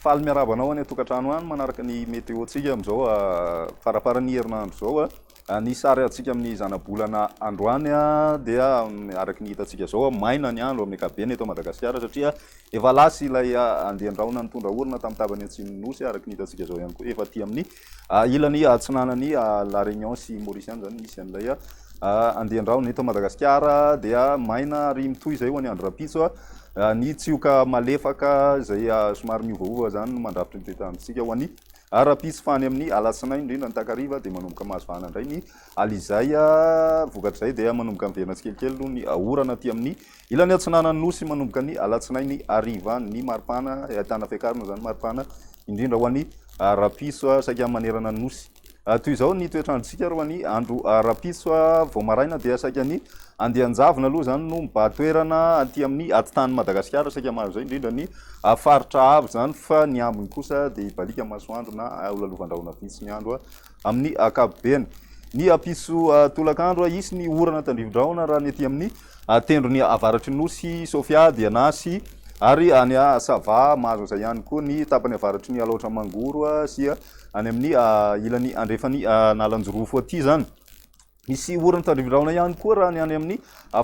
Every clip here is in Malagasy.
Faly miarahaba anao any an-tokantrano any manaraka ny météo-tsika amin'izao farafaran'ny herinandro izao. Ny sary azontsika amin'ny zanabolana androany dia araka ny hitantsika izao, maina ny andro amin'ny ankapobeny eto Madagasikara satria efa lasa ilay andian-drahona nitondra orana tamin'ny tapany atsimon'ny Nosy araka ny hitantsika izao ihany koa efa aty amin'ny ilany atsinanan'i La Réunion sy Maurice ihany izany no misy an'ilay andian-drahona. Eto Madagasikara dia maina ary mitohy izay ho an'ny andro rahampitso. Ny tsioka malefaka izay somary miovaova izany no mandrafitra ny toe-tany antsika ho an'ny Ara-pitsy fa any amin'ny alatsinainy indrindra ny takariva dia manomboka mahazo vahana indray ny ala izay vokatr'izay dia manomboka miverina tsikelikely noho ny orana aty amin'ny ilany atsinanan'ny Nosy manomboka ny alatsinainy hariva ny maripana ahitana fiakarana izany maripana indrindra ho an'ny rapitso saika manerana ny Nosy. Toy izao ny toetr'androntsika ary ho an'ny andro rapitso vao maraina dia saika ny andian-javona aloha izany no mibahan-toerana aty amin'ny atitan'i Madagasikara saika mahazo izay indrindra ny A Faritra avo izany fa ny ambiny kosa dia hibaliaka masoandro na holalovan-drahona vitsy ny andro amin'ny ankapobeny. Ny hampisy tolakandro hisy ny orana tandrivin-drahona raha ny ety amin'ny tendrony avaratry ny Nosy Sofia dia Anasy ary any Sava mahazo an'izay ihany koa ny tapany avaratry ny Alaotra Mangoro sy any amin'ny ilany andrefan'Analanjirofo aty izany. Hisy orana tandrify rahona ihany koa raha ny any amin'ny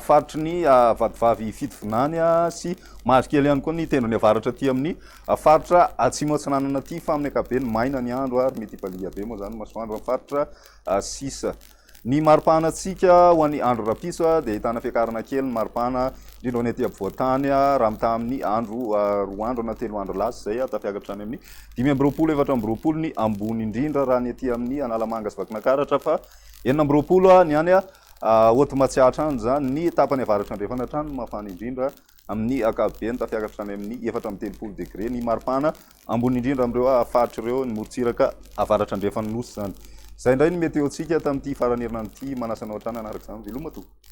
faritry ny vadivavy Fitovinany sy Mavikely ihany koa ny tendrony avaratra aty amin'ny faritra Atsimo Atsinanana aty fa amin'ny ankapobeny maina ny andro ary mety hibaliha be moa izany ny masoandro amin'ny faritra sisa. Ny maripahanantsika ho an'ny andro rahampitso dia ahitana fiakarana kely ny maripana indrindra ho an'ny aty ampovoan-tany raha mitaha amin'ny andro roa andro na telo andro lasa izay tafiakatra hatrany amin'ny dimy amby roapolo efatra amby roapolo ny ambony indrindra raha ny aty amin'ny Analamanga sy Vakinakaratra fa Enina amby roapolo ha ny any Haute Matsiatra any izany, ny tapany avaratra andrefana hatrany no mafana indrindra, amin'ny ankapobeny tafiakatra hatrany amin'ny efatra amby telopolo degre, ny maripana ambony indrindra amin'ireo faritra ireo, ny morontsiraka avaratra andrefan'ny Nosy izany. Izay indray ny météo-ntsika tamin'ity faran'ny herinandro ity, manasa anao hatrany hanaraka izany, veloma tompoko.